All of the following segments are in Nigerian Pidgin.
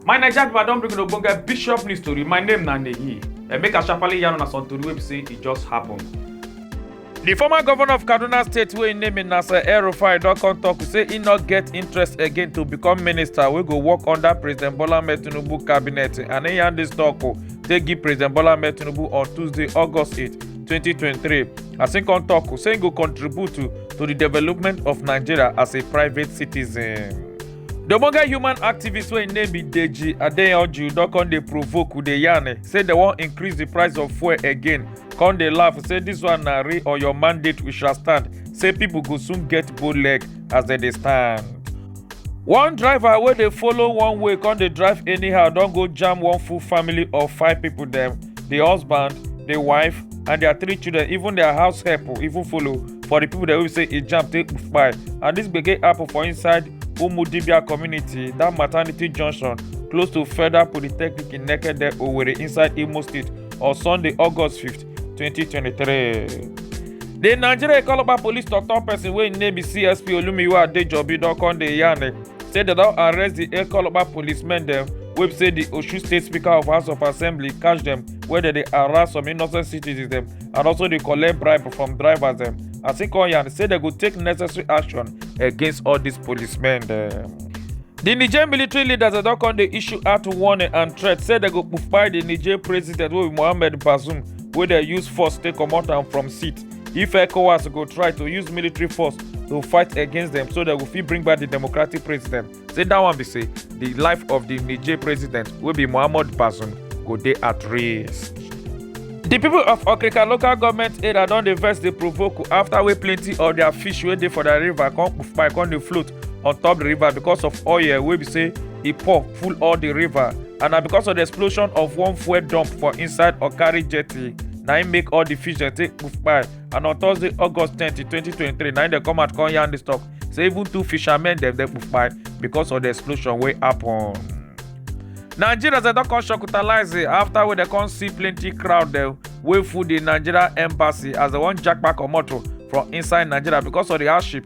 my naija pipo i don bring una ogbonge bishop news tori my name na neyi and make i sharparly yarn una some tori wey be say e just happen. di former governor of kaduna state wey im name na sir el-rufai don come tok say e no get interest again to become minister wey go work under president bola ahmed tinubu cabinet and e yarn dis tok o take give president bola ahmed tinubu on tuesday august 8 2023. as im come tok say im go contribute to to di development of nigeria as a private citizen. di ogbonge human activist wey im name be deji adeyanju don come dey provoke with dey yarn say dem wan increase di price of fuel again come dey laugh say dis one na real or your mandate we shall stand say pipo go soon get bow leg as dem dey stand. one driver wey dey follow one way come dey drive anyhow don go jam one full family of five people dem the husband the wife and their three children even their house help even follow for the people dem wey be say e jam take kpai and this gbege happen for inside umudibia community that maternity junction close to federal polytechnic in nekede owerri inside imo state on sunday august 5th 2023. di nigeria calabar police tok-tok pesin wey im name be csp olumiwa adejobi don come dey yarn eh, say dem don arrest di calabar policemen dem wey say di osun state speaker of house of assembly catch dem wey dem dey harass some innocent citizens dem and also dey collect bribe from drivers dem as e come yarn say dem go take necessary action against all dis policemen dem. di niger military leaders don come dey issue out warning and threat say dem go kpai di niger president wey be mohamed bazoum wey dem use force take comot am from seat if ecowas go try to use military force to fight against dem so dem go fit bring back di democratic president say dat one be say di life of di niger president wey be mohamed bazoum go dey at risk. di pipo of okrika local goment area don dey vex dey provoke afta wey plenty of dia fish wey dey for dia river come kpai come dey float on top the river because of oil wey be say e pour full all the river and na because of the explosion of one fuel dump for inside okari jetty na im make all the fish dem take poof kpai and on thursday august twenty twenty twenty three na im dem come out come yarn the stock say even two fishermen dem dey poof kpai because of the explosion wey happen. nigerians dem don come shocutalize it after wey dem come see plenty crowd dem wey full the nigeria embassy as dem wan japa comot o from inside nigeria because of the hardship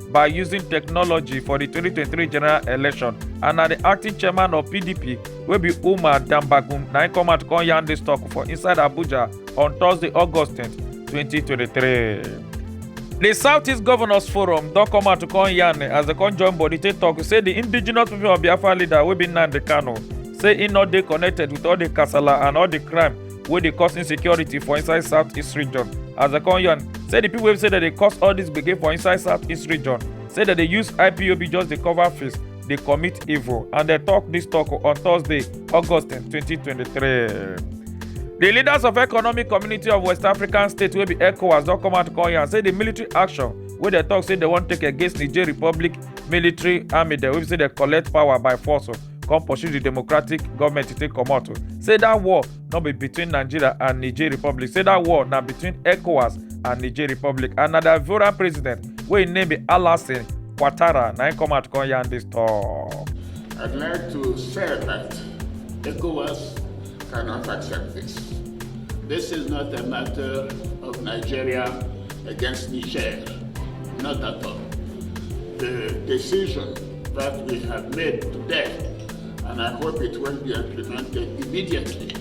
by using technology for di 2023 general election and na di acting chairman of pdp wey be umar dambagun na im come out come yarn dis tok for inside abuja on thursday august 10 2023. di southeast governors forum don come out to come yarn as dem come join body take tok say di indigenous people of biafra leader wey be nnamdi kanu say e no dey connected with all di kasala and all di crime wey dey cause insecurity for inside southeast region as dem come yarn say di pipo wey say dem dey cause all dis gbege for inside southeast region say dem dey use ipob just dey cover face dey commit evil and dem tok dis tok on thursday august 2023 di leaders of economic community of west african states wey be ecowas don come out come yarn say di military action wey dem tok say dem wan take against niger republic military army dem wey be say dem collect power by force come pursue di democratic goment to take comot say dat war no be between nigeria and niger republic say dat war na between ecowas and niger republic and na di ivorian president wey im name be alassane ouattara na im come out come yarn dis tok. I'd like to say that ECOWAS cannot accept this. This is not a matter of Nigeria against Niger, not at all. The decision that we have made today, and I hope it will be implemented immediately,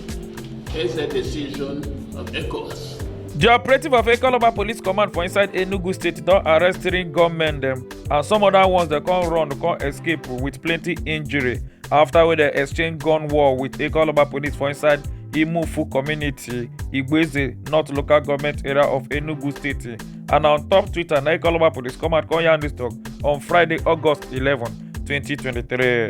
is a decision of ECOWAS. The operative of Ekoloba Police Command for inside Enugu State don arrest three gunmen dem and some other ones dey come run come escape with plenty injury after wey dey exchange gun war with Ekoloba Police for inside Imufu community, Igbeze, North Local Government Area of Enugu State. and na on top twitter na ikoloba police come out come yarn dis tok on friday august eleven twenty twenty three.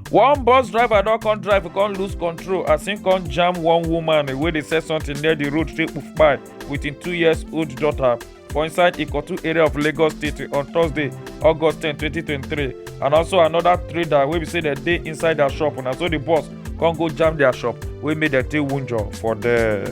one bus driver don come drive come lose control as im come jam one woman wey dey sell something near di road take poof kpai wit im two years old daughter for inside ikotu area of lagos state on thursday august ten twenty twenty three and also anoda trader wey be say dem dey inside dia shop na so di bus come go jam dia shop wey make dem take wunjure for there.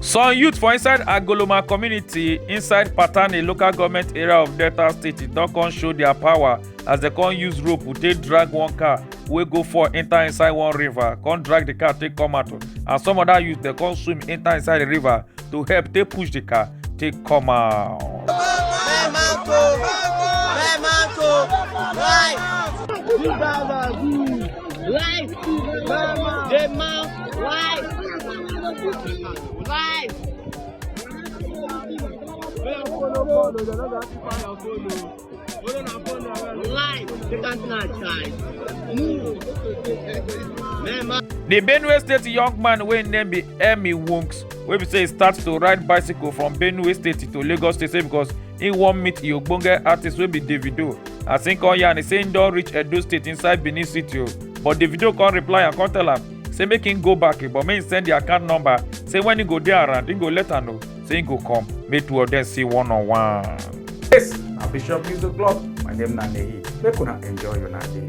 some youth for inside agoloma community inside patani local government area of delta state don come show their power as dem come use rope take drag one car wey go fall enter inside one river come drag the car take come out and some other youth dem come swim enter inside the river to help take push the car take come out. Life, the man, life, life. Life, take us now, child. Move. Remember. The Benue State young man wey im name be Emmy Wonks wey be say e start to ride bicycle from Benue State to Lagos State say because He wan meet the ogbonge artist wey be Davido as him come yarn say him don reach Edo State inside Benin City o. But Davido come reply and come tell am say make him go back but make him send the account number say when he go dey around he go let am know say he go come make two of them see one on one. Yes, na Bishop Music Club. My name na Nehi. Make una enjoy una day.